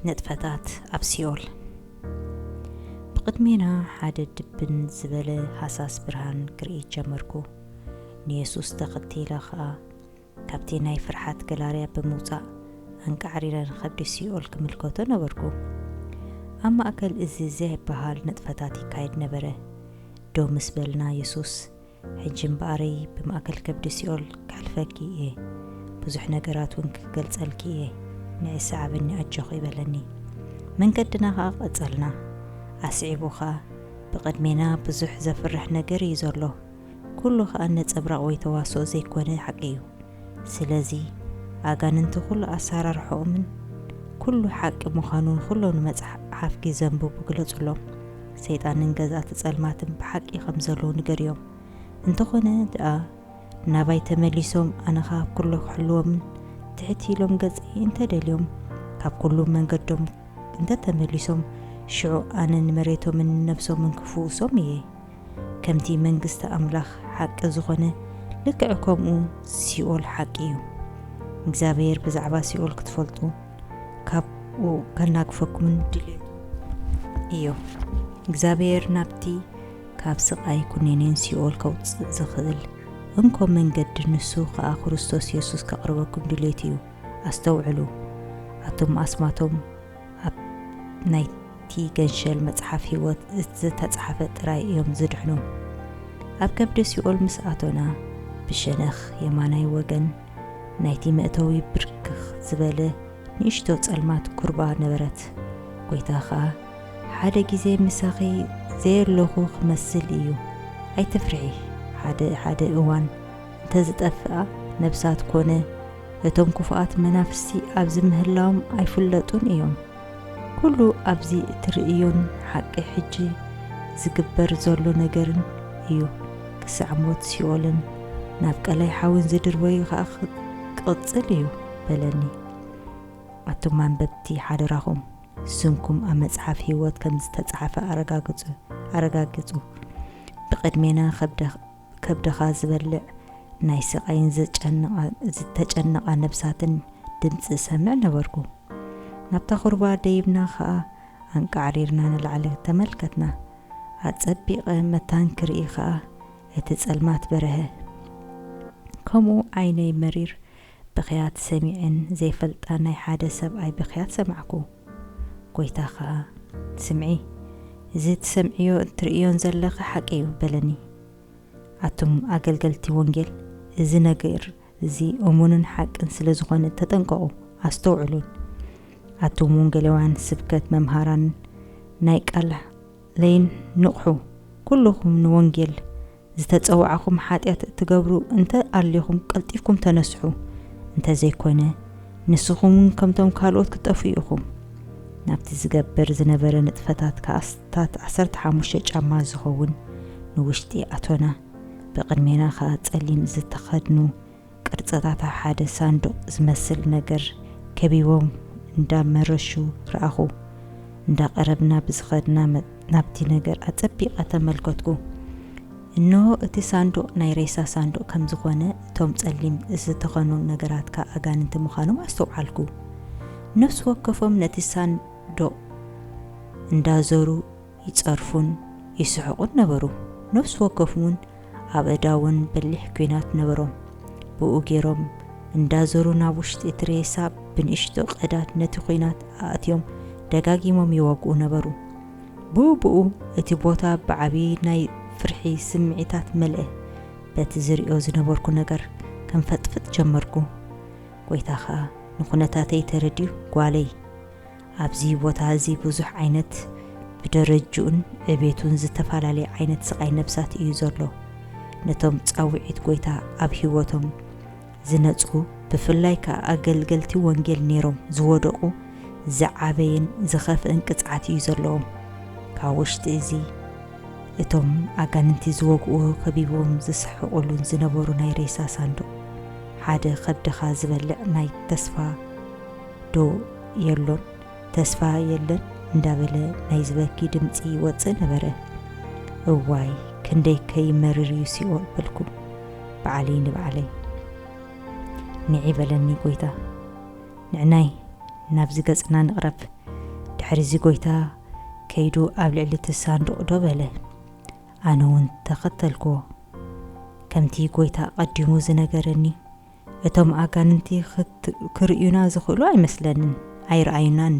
ንጥፈታት ኣብ ሲኦል ብቕድሜና ሓደ ድብን ዝበለ ሃሳስ ብርሃን ክርኢ ጀመርኩ። ንየሱስ ተኸቲለ ኸኣ ካብቲ ናይ ፍርሓት ገላርያ ብምውጻእ ኣንቃዕሪረ ንኸብዲ ሲኦል ክምልከቶ ነበርኩ። ኣብ ማእከል እዚ ዘይበሃል ንጥፈታት ይካየድ ነበረ። ደው ምስ በልና የሱስ ሕጂ እምበኣረይ ብማእከል ከብዲ ሲኦል ከሕልፈኪ እየ፣ ብዙሕ ነገራት እውን ክገልጸልኪ እየ፣ ንዒ ሰዓብኒ ኣጆኺ በለኒ። መንገድና ኸኣ ቀጸልና። ኣስዒቡ ኸኣ፣ ብቕድሜና ብዙሕ ዘፍርሕ ነገር እዩ ዘሎ፣ ኵሉ ኸኣ ነጸብራቕ ወይ ተዋስኦ ዘይኰነ ሓቂ እዩ። ስለዚ ኣጋንንቲ ኩሉ ኣሳራርሖኦምን ኩሉ ሓቂ ምዃኑን ኩሎም ንመጽሓፍ ጊ ዘንብቡ ግለጹሎም። ሰይጣንን ገዛእቲ ጸልማትን ብሓቂ ከም ዘለዉ ንገርዮም። እንተኾነ ድኣ ናባይ ተመሊሶም ኣነ ካብ ኩሉ ክሕልዎምን ትሕት ኢሎም ገጸይ እንተ ደልዮም ካብ ኩሉ መንገዶም እንተ ተመሊሶም ሽዑ ኣነ ንመሬቶምን ንነፍሶምን ክፍውሶም እየ። ከምቲ መንግስቲ ኣምላኽ ሓቂ ዝኾነ ልክዕ ከምኡ ሲኦል ሓቂ እዩ። እግዚኣብሔር ብዛዕባ ሲኦል ክትፈልጡ ካብኡ ከናግፈኩምን ድሌቱ እዩ። እግዚኣብሔር ናብቲ ካብ ስቓይ ኩኔኔን ሲኦል ከውፅእ ዝኽእል እንኮ መንገዲ ንሱ ከኣ ክርስቶስ የሱስ ከቕርበኩም ድሌት እዩ። ኣስተውዕሉ ኣቶም ኣስማቶም ኣብ ናይቲ ገንሸል መጽሓፍ ህይወት ዝተጻሕፈ ጥራይ እዮም ዝድሕኑ። ኣብ ከብዲ ሲኦል ምስ ኣቶና፣ ብሸነኽ የማናይ ወገን ናይቲ መእተዊ ብርክኽ ዝበለ ንእሽቶ ጸልማት ኩርባ ነበረት። ጐይታ ኸኣ፣ ሓደ ግዜ ምሳኺ ዘየሎኹ ኽመስል እዩ፣ ኣይትፍርሒ፣ ሓደ ሓደ እዋን እንተ ዝጠፍኣ ነብሳት ኰነ፣ እቶም ክፉኣት መናፍስቲ ኣብዚ ምህላዎም ኣይፍለጡን እዮም። ኩሉ ኣብዚ እትርእዮን ሓቂ ሕጂ ዝግበር ዘሎ ነገርን እዩ፣ ክሳዕ ሞት ሲኦልን ናብ ቀላይ ሓዊን ዝድርበዩ ኸኣ ክቕጽል እዩ በለኒ። ኣቱም ኣንበብቲ ሓደራኹም ስምኩም ኣብ መጽሓፍ ህይወት ከም ዝተጻሕፈ ኣረጋግጹ፣ ኣረጋግጹ። ብቕድሜና ከብደ። ከብድኻ ዝበልዕ ናይ ስቓይን ዝተጨነቓ ነብሳትን ድምጺ እሰምዕ ነበርኩ። ናብታ ዅርባ ደይብና ኸኣ ኣንቃዕሪርና ንላዕሊ ተመልከትና። ኣጸቢቐ መታን ክርኢ ኸኣ እቲ ጸልማት በርሀ። ከምኡ ዓይነይ መሪር ብኽያት ሰሚዐን ዘይፈልጣ ናይ ሓደ ሰብኣይ ብኽያት ሰማዕኩ። ጐይታ ኸኣ፣ ስምዒ፣ እዚ እትሰምዕዮ እትርእዮን ዘለኺ ሓቂ እዩ፣ በለኒ። ኣቱም ኣገልገልቲ ወንጌል፣ እዚ ነገር እዚ እሙንን ሓቅን ስለ ዝዀነ ተጠንቀቑ፣ ኣስተውዕሉን። ኣቱም ወንጌላውያን ስብከት መምሃራንን ናይ ቃል ለይን ንቕሑ፣ ኵልኹም ንወንጌል ዝተጸዋዕኹም ሓጢኣት እትገብሩ እንተ ኣሊኹም ቀልጢፍኩም ተነስሑ፣ እንተ ዘይኮነ ንስኹም እውን ከምቶም ካልኦት ክትጠፍኡ ኢኹም። ናብቲ ዝገብር ዝነበረ ንጥፈታት ከኣ ኣስታት ዓሰርተ ሓሙሽተ ጫማ ዝኸውን ንውሽጢ ኣቶና፣ ብቕድሜና ከኣ ጸሊም ዝተኸድኑ ቅርጽታት ኣብ ሓደ ሳንዱቕ ዝመስል ነገር ከቢቦም እንዳ መረሹ ረኣኹ። እንዳ ቀረብና ብዝኸድና ናብቲ ነገር ኣጸቢቐ ተመልከትኩ። እንሆ እቲ ሳንዱቕ ናይ ሬሳ ሳንዱቕ ከም ዝኾነ እቶም ጸሊም ዝተኸኑ ነገራት ከኣ ኣጋንንቲ ምዃኖም ኣስተውዓልኩ። ነፍሲ ወከፎም ነቲ ሳንዱቕ እንዳ ዞሩ ይጸርፉን ይስሕቁን ነበሩ። ነፍሲ ወከፍም ውን ኣብ ኣእዳውን በሊሕ ኲናት ነበሮም። ብኡ ገይሮም እንዳዘሩ ናብ ውሽጢ እቲ ሬሳ ብንእሽቶ ቀዳድ ነቲ ኲናት ኣእትዮም ደጋጊሞም ይወግኡ ነበሩ። ብኡ ብኡ እቲ ቦታ ብዓቢ ናይ ፍርሒ ስምዒታት መልኣ። በቲ ዝርእዮ ዝነበርኩ ነገር ከንፈጥፍጥ ጀመርኩ። ጎይታ ከኣ ንኩነታተይ ተረዲኡ ጓለይ! ኣብዚ ቦታ እዚ ብዙሕ ዓይነት ብደረጅኡን ዕቤቱን ዝተፈላለየ ዓይነት ስቓይ ነፍሳት እዩ ዘሎ። ነቶም ጻውዒት ጐይታ ኣብ ህይወቶም ዝነጽጉ ብፍላይ ከኣ ኣገልገልቲ ወንጌል ነይሮም ዝወደቑ ዝዓበየን ዝኸፍእን ቅጽዓት እዩ ዘለዎም። ካብ ውሽጢ እዚ እቶም ኣጋንንቲ ዝወግእዎ ከቢብዎም ዝስሕቕሉን ዝነበሩ ናይ ሬሳ ሳንዱቕ ሓደ ከብድኻ ዝበልዕ ናይ ተስፋ ዶ የሎን ተስፋ የለን እንዳበለ ናይ ዝበኪ ድምጺ ይወጽእ ነበረ። እዋይ ክንደይ ከይመርር እዩ ሲኦል በልኩ በዓለይ ንባዕለይ። ንዒ በለኒ ጎይታ ንዕናይ ናብዚ ገጽና ንቕረብ ድሕሪዚ ጎይታ ከይዱ ኣብ ልዕሊ እቲ ሳንዱቕ ዶ በለ ኣነ እውን ተኸተልኩዎ ከምቲ ጎይታ ኣቐዲሙ ዝነገረኒ እቶም ኣጋንንቲ ክርእዩና ዝኽእሉ ኣይመስለንን ኣይርኣዩናን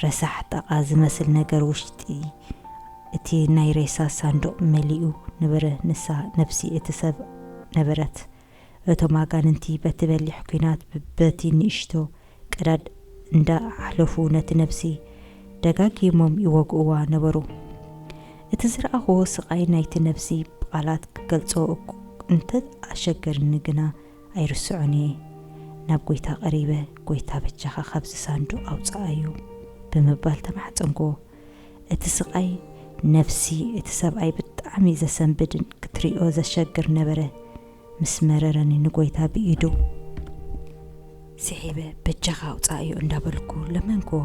ረሳሕ ጠቓ ዝመስል ነገር ውሽጢ እቲ ናይ ሬሳ ሳንዱቕ መሊኡ ነበረ ንሳ ነብሲ እቲ ሰብ ነበረት እቶም ኣጋንንቲ በቲ በሊሕ ኩናት በቲ ንእሽቶ ቀዳድ እንዳ ኣሕለፉ ነቲ ነብሲ ደጋጊሞም ይወግእዋ ነበሩ። እቲ ዝረኣኽዎ ስቓይ ናይቲ ነብሲ ብቓላት ክገልጾ እኩ እንተ ኣሸገርኒ ግና ኣይርስዖን እየ። ናብ ጎይታ ቀሪበ ጎይታ በጃኻ ካብዚ ሳንዱቕ ኣውጽኣዮ ብምባል ተማሕጸንክዎ። እቲ ስቓይ ነብሲ እቲ ሰብኣይ ብጣዕሚ ዘሰንብድን ክትሪኦ ዘሸግር ነበረ። ምስ መረረኒ ንጎይታ ብኢዱ ስሒበ በጃኻ ኣውጽኣዮ እንዳበልኩ ለመንክዎ።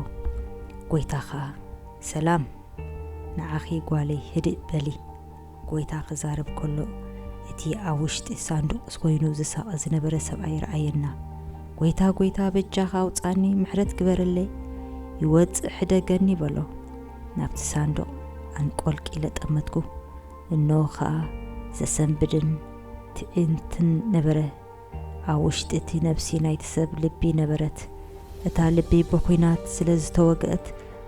ጎይታ ከኣ ሰላም ንዓኺ ጓለይ ህድእ በሊ ጎይታ ክዛረብ ከሎ እቲ ኣብ ውሽጢ ሳንዱቕ ኮይኑ ዝሳቐ ዝነበረ ሰብኣይ ረኣየና። ጎይታ ጎይታ በጃኻ ኣውጽኣኒ ምሕረት ግበረለይ ይወጽእ ሕደገኒ በሎ። ናብቲ ሳንዱቕ ኣንቆልቂለ ጠመትኩ። እነሆ ኸኣ ዘሰንብድን ትዒንትን ነበረ። ኣብ ውሽጢ እቲ ነብሲ ናይቲ ሰብ ልቢ ነበረት። እታ ልቢ ብኹናት ስለ ዝተወግአት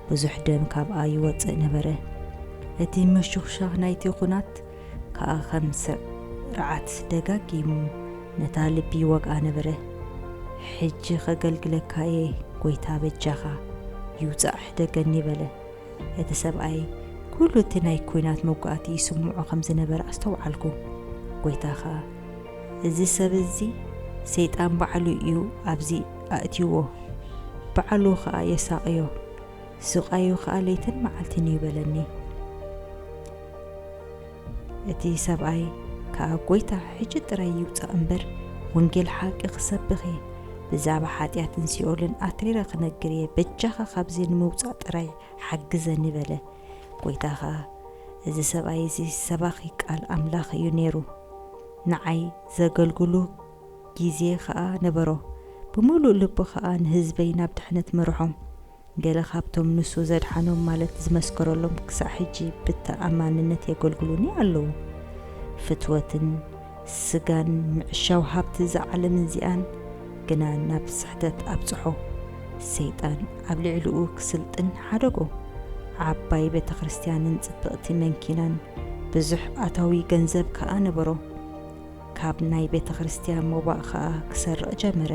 ብዙሕ ደም ካብኣ ይወጽእ ነበረ። እቲ ምሹኽሻኽ ናይቲ ኹናት ከኣ ከም ስርዓት ደጋጊሙ ነታ ልቢ ይወግኣ ነበረ። ሕጂ ኸገልግለካ እየ፣ ጐይታ በጃኻ ይውጻእ ሕደገኒ በለ። እቲ ሰብኣይ ኵሉ እቲ ናይ ኲናት መጕኣቲ ይስምዖ ኸም ዝነበረ ኣስተውዓልኩ። ጐይታ ኸኣ፣ እዚ ሰብ እዚ፣ ሰይጣን ባዕሉ እዩ ኣብዚ ኣእትይዎ፣ ባዕሉ ኸኣ የሳቕዮ፣ ስቓዩ ኸኣ ለይትን መዓልትን እዩ በለኒ። እቲ ሰብኣይ ከኣ ጐይታ ሕጂ ጥራይ ይውጻእ እምበር ወንጌል ሓቂ ክሰብኽ እየ ብዛዕባ ሓጢኣትን ሲኦልን ኣትሪረ ክነግር እየ በጃኻ ካብዚ ንምውጻእ ጥራይ ሓግዘኒ በለ ጐይታ ከኣ እዚ ሰብኣይ እዚ ሰባኺ ቃል ኣምላኽ እዩ ነይሩ ንዓይ ዘገልግሉ ግዜ ከኣ ነበሮ ብምሉእ ልቡ ከኣ ንህዝበይ ናብ ድሕነት መርሖም ገለ ካብቶም ንሱ ዘድሓኖም ማለት ዝመስከረሎም ክሳዕ ሕጂ ብተኣማንነት የገልግሉኒ ኣለዉ። ፍትወትን ስጋን ምዕሻው ሃብቲ እዛ ዓለም እዚኣን ግና ናብ ስሕተት ኣብጽሖ። ሰይጣን ኣብ ልዕሊኡ ክስልጥን ሓደጎ። ዓባይ ቤተ ክርስትያንን ጽብቕቲ መንኪናን ብዙሕ ኣታዊ ገንዘብ ከኣ ነበሮ። ካብ ናይ ቤተ ክርስቲያን ሞባእ ከኣ ክሰርቕ ጀመረ።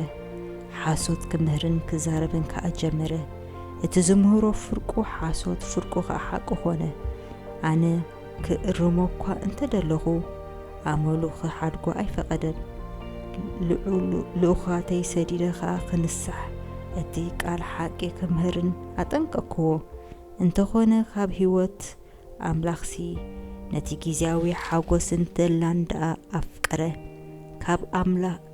ሓሶት ክምህርን ክዛረብን ከኣ ጀመረ። እቲ ዝምህሮ ፍርቁ ሓሶት ፍርቁ ከኣ ሓቂ ኾነ። ኣነ ክእርሞ እኳ እንተ ደለኹ ኣመሉ ክሓድጎ ኣይፈቐደን። ልኡኻተይ ሰዲደ ከኣ ክንሳሕ እቲ ቃል ሓቂ ክምህርን ኣጠንቀቅክዎ። እንተኾነ ካብ ህይወት ኣምላኽሲ ነቲ ግዝያዊ ሓጐስን ተድላን ደኣ ኣፍቀረ።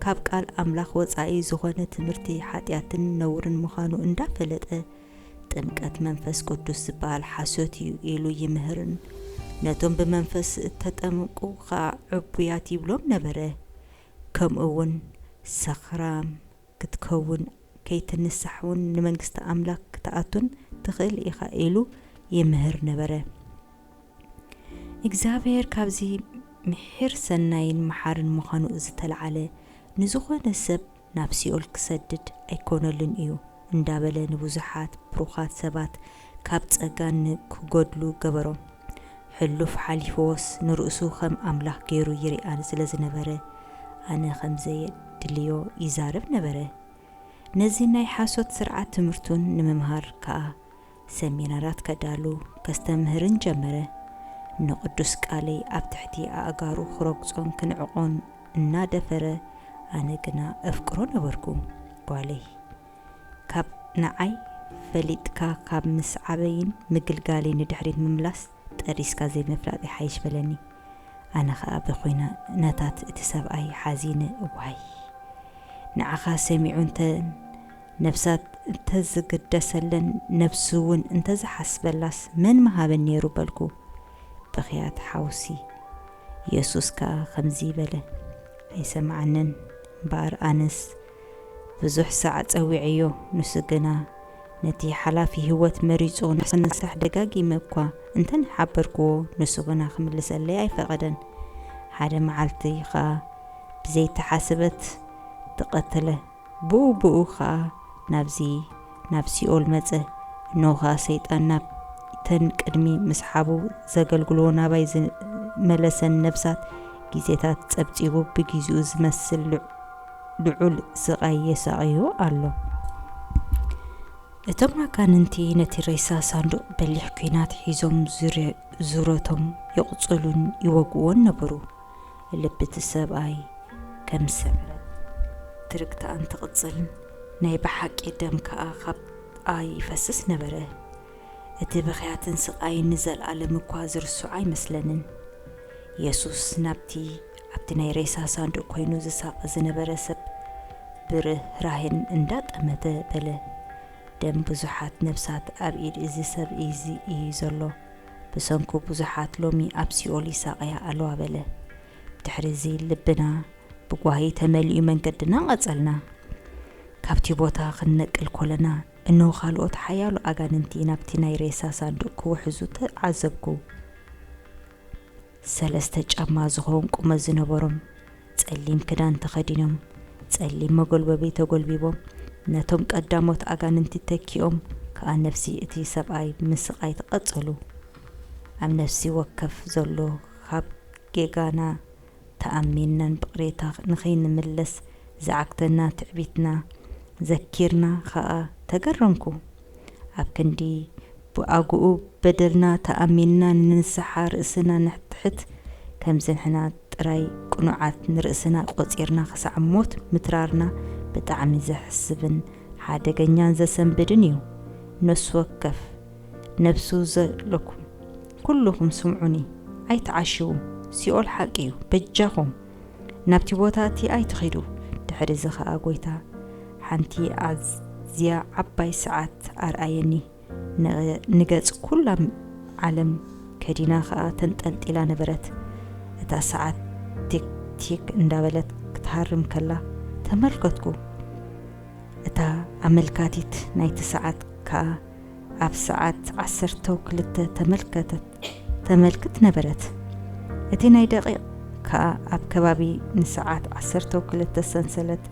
ካብ ቃል ኣምላኽ ወጻኢ ዝኾነ ትምህርቲ ሓጢኣትን ነውርን ምዃኑ እንዳፈለጠ ጥምቀት መንፈስ ቅዱስ ዝበሃል ሓሶት እዩ ኢሉ ይምህርን ነቶም ብመንፈስ እተጠምቁ ኸኣ ዕቡያት ይብሎም ነበረ። ከምኡውን ሰኽራም፣ ክትከውን ከይትንሳሕ ውን ንመንግስቲ ኣምላክ ክትኣቱን ትክእል ኢካ ኢሉ ይምህር ነበረ እግዚኣብሔር ካብዚ ምሒር ሰናይን መሓርን ምካኑ ዝተልዓለ ንዝኮነ ሰብ ናብ ሲኦል ክሰድድ ኣይኮነሉን እዩ እንዳበለ ንብዙሓት ብሩካት ሰባት ካብ ጸጋ ን ክጎድሉ ገበሮም። ሕሉፍ ሓሊፍዎስ ንርእሱ ከም ኣምላኽ ገይሩ ይርኣ ስለ ዝነበረ ኣነ ከም ዘየድልዮ ይዛረብ ነበረ። ነዚ ናይ ሓሶት ስርዓት ትምህርቱን ንምምሃር ከኣ ሰሚናራት ከዳሉ ከስተምህርን ጀመረ። ን ቅዱስ ቃለይ ኣብ ትሕቲ ኣእጋሩ ክረግጾን ክንዕቆን እናደፈረ ኣነ ግና እፍቅሮ ነበርኩ። ጓለይ። ካብ ንዓይ ፈሊጥካ ካብ ምስዓበይን ምግልጋለይ ንድሕሪት ምምላስ ጠሪስካ ዘይምፍላጥ ይሓይሽ በለኒ ኣነ ከኣ ብኩነታት እቲ ሰብኣይ ሓዚነ ዋይ ንዓካ ሰሚዑ እተን ነብሳት እንተዝግደሰለን ነብሱ ውን እንተዝሓስበላስ መን ምሃበን ኔሩ በልኩ ብክያት ሓውሲ የሱስ ከኣ ከምዚ በለ ኣይሰምዓንን እምበኣር ኣነስ ብዙሕ ሳዕ ጸዊዐዮ፣ ንሱ ግና ነቲ ሓላፊ ህይወት መሪጹ ንኽንሳሕ ደጋጊመ እኳ እንተ ሓበርክዎ፣ ንሱ ግና ክምልሰለይ ኣይፈቐደን። ሓደ መዓልቲ ኸኣ ብዘይተሓስበት ተቐትለ። ብኡ ብኡ ኸኣ ናብዚ ናብ ሲኦል መጸ። እንሆ ኸኣ ሰይጣን ናብተን ቅድሚ ምስሓቡ ዘገልግልዎ ናባይ ዝመለሰን ነፍሳት ግዜታት ጸብጺቡ ብግዜኡ ዝመስል ልዑል ልዑል ስቓይ የሳቕዮ ኣሎ። እቶም ኣጋንንቲ ነቲ ሬሳ ሳንዱቕ በሊሕ ኲናት ሒዞም ዙረቶም ይቕጽሉን ይወግኡዎን ነበሩ። ልቢ እቲ ሰብኣይ ከም ስዕረት ትርግታኣን ትቕጽል፣ ናይ ብሓቂ ደም ከኣ ካብኣ ይፈስስ ነበረ። እቲ ብኽያትን ስቓይን ንዘልኣለም እኳ ዝርስዖ ኣይመስለንን። የሱስ ናብቲ ኣብቲ ናይ ሬሳ ሳንዱቕ ኮይኑ ዝሳቐ ዝነበረ ሰብ ብርህራሄን እንዳጠመተ በለ፣ ደም ብዙሓት ነፍሳት ኣብ ኢድ እዚ ሰብ እዚ እዩ ዘሎ፣ ብሰንኩ ብዙሓት ሎሚ ኣብ ሲኦል ይሳቐያ ኣለዋ በለ። ብድሕሪ እዚ ልብና ብጓሂ ተመሊኡ መንገድና ቀጸልና። ካብቲ ቦታ ክንነቅል ኮለና እነሆ ካልኦት ሓያሎ ኣጋንንቲ ናብቲ ናይ ሬሳ ሳንዱቕ ክውሕዙ ተዓዘብኩ። ሰለስተ ጫማ ዝኸውን ቁመት ዝነበሮም ጸሊም ክዳን ተኸዲኖም፣ ጸሊም መጎልበቢ ተጎልቢቦም፣ ነቶም ቀዳሞት ኣጋንንቲ ተኪኦም ከኣ ነፍሲ እቲ ሰብኣይ ምስቓይት ቐጸሉ። ኣብ ነፍሲ ወከፍ ዘሎ ኻብ ጌጋና ተኣሚንና ብቕሬታ ንኺንምለስ ዝዓግተና ትዕቢትና ዘኪርና ኸኣ ተገረምኩ። ኣብ ክንዲ ብኣግኡ በደልና ተኣሚንና ንንስሓ ርእስና ነሕትሕት ከምዝንሕና ጥራይ ቅኑዓት ንርእስና ቆጺርና ክሳዕ ሞት ምትራርና ብጣዕሚ ዘሕስብን ሓደገኛን ዘሰንብድን እዩ ነሱወከፍ ነብሱ ዘለኩም ኩሉኩም ስምዑኒ ኣይትዓሽዉ ሲኦል ሓቂ እዩ በጃኩም ናብቲ ቦታ እቲ ኣይትኪዱ ድሕሪ እዚ ከኣ ጎይታ ሓንቲ ኣዝያ ዓባይ ሰዓት ኣርኣየኒ ንገጽ ኩላ ዓለም ከዲና ከኣ ተንጠልጢላ ነበረት። እታ ሰዓት ቲክ-ቲክ እንዳበለት ክትሃርም ከላ ተመልከትኩ። እታ ኣመልካቲት ናይቲ ሰዓት ከኣ ኣብ ሰዓት ዓሰርተው ክልተ ተመልክት ነበረት። እቲ ናይ ደቒቕ ከኣ ኣብ ከባቢ ንሰዓት ዓሰርተው ክልተ ሰንሰለት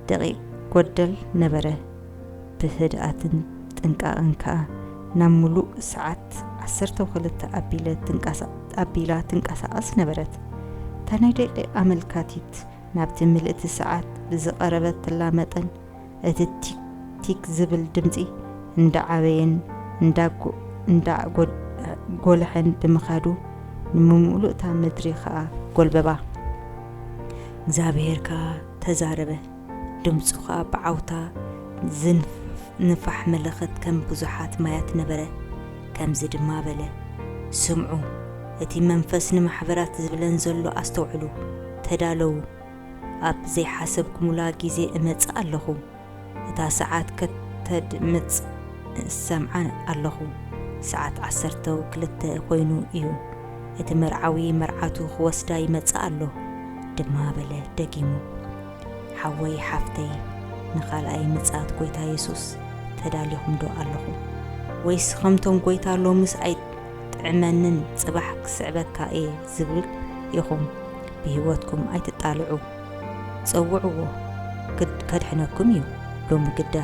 ደቒቕ ጎደል ነበረ፣ ብህድኣትን ጥንቃቐን ከኣ ናብ ምሉእ ሰዓት ዓሰርተው ክልተ ኣቢላ ትንቀሳቐስ ነበረት። እታ ናይ ደቒቕ ኣመልካቲት ናብቲ ምልእቲ ሰዓት ብዝቐረበትላ መጠን፣ እቲ ቲክ ቲክ ዝብል ድምጺ እንዳ ዓበየን እንዳ ጎልሐን ብምኻዱ፣ ንምምሉእታ ምድሪ ከኣ ጎልበባ። እግዚኣብሄር ከኣ ተዛረበ፣ ድምጹ ኸኣ ብዓውታ ዝንፋሕ መለኸት ከም ብዙሓት ማያት ነበረ፣ ከምዚ ድማ በለ፣ ስምዑ፣ እቲ መንፈስ ንማሕበራት ዝብለን ዘሎ ኣስተውዕሉ፣ ተዳለዉ፣ ኣብ ዘይሓሰብኩምላ ጊዜ እመጽእ ኣሎኹ። እታ ሰዓት ከተድምጽ እሰምዓ ኣለኹ። ሰዓት ዓሰርተ ክልተ ኮይኑ እዩ። እቲ መርዓዊ መርዓቱ ክወስዳ ይመጽእ ኣሎ። ድማ በለ ደጊሙ። ሓወይ ሓፍተይ ንኻልኣይ ምጽኣት ጐይታ የሱስ ተዳሊኹምዶ ኣለኹም? ወይስ ከምቶም ጐይታ ሎምስ ኣይጥዕመንን ጽባሕ ክስዕበካ እየ ዝብል ኢኹም? ብህይወትኩም ኣይትጣልዑ። ጸውዕዎ ግድ ከድሕነኩም እዩ ሎሚ ግዳ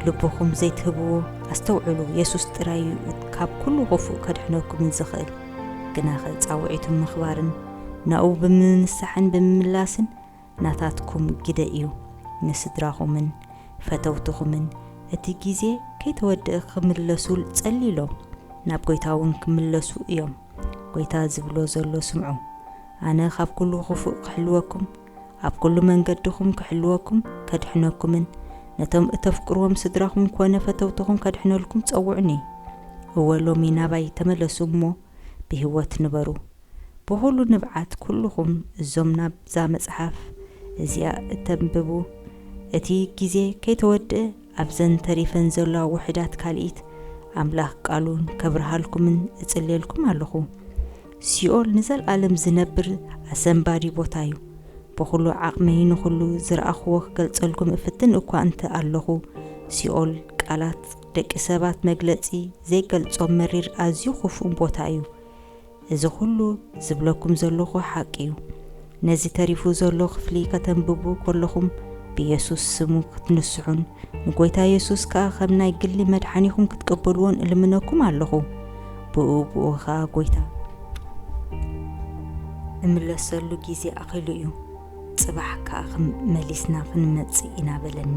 ልብኹም ዘይትህብዎ ኣስተውዕሉ የሱስ ጥራይ እዩ ካብ ኩሉ ክፉእ ከድሕነኩምን ዝኽእል ግናኸ ጻውዒቱ ምኽባርን ናኡ ብምንሳሕን ብምምላስን ናታትኩም ግደ እዩ ንስድራኹምን ፈተውትኹምን እቲ ግዜ ከይተወድእ ክምለሱ ጸልዩሎም ናብ ጎይታውን ክምለሱ እዮም ጐይታ ዝብሎ ዘሎ ስምዑ፣ ኣነ ኻብ ኵሉ ኽፉእ ክሕልወኩም፣ ኣብ ኵሉ መንገድኹም ክሕልወኩም፣ ከድሕነኩምን ነቶም እተፍቅርዎም ስድራኹም ኰነ ፈተውትኹም ከድሕነልኩም ጸውዑኒ። እወ፣ ሎሚ ናባይ ተመለሱ እሞ ብህይወት ንበሩ። ብዅሉ ንብዓት ኵልኹም እዞም ናብዛ መጽሓፍ እዚኣ እተንብቡ፣ እቲ ግዜ ከይተወድአ ኣብዘን ተሪፈን ዘሎዋ ውሑዳት ካልኢት ኣምላኽ ቃሉ ከብርሃልኩምን እጽልየልኩም ኣሎኹ። ሲኦል ንዘልኣለም ዝነብር ኣሰንባዲ ቦታ እዩ። ብኹሉ ዓቕመይ ንኹሉ ዝረኣኹዎ ክገልጸልኩም እፍትን እኳ እንተ ኣሎኹ፣ ሲኦል ቃላት ደቂ ሰባት መግለጺ ዘይገልጾ መሪር ኣዝዩ ክፉእን ቦታ እዩ። እዚ ኩሉ ዝብለኩም ዘሎኹ ሓቂ እዩ። ነዚ ተሪፉ ዘሎ ክፍሊ ከተንብቡ ከሎኹም ብየሱስ ስሙ ክትንስሑን ንጎይታ የሱስ ከኣ ከም ናይ ግሊ መድሓኒኹም ክትቀበልዎን እልምነኩም ኣሎኹ። ብእኡ ብእኡ ከኣ ጎይታ። እምለሰሉ ግዜ ኣኺሉ እዩ። ጽባሕ ከኣ ክም መሊስና ክንመጽእ ኢና በለኒ።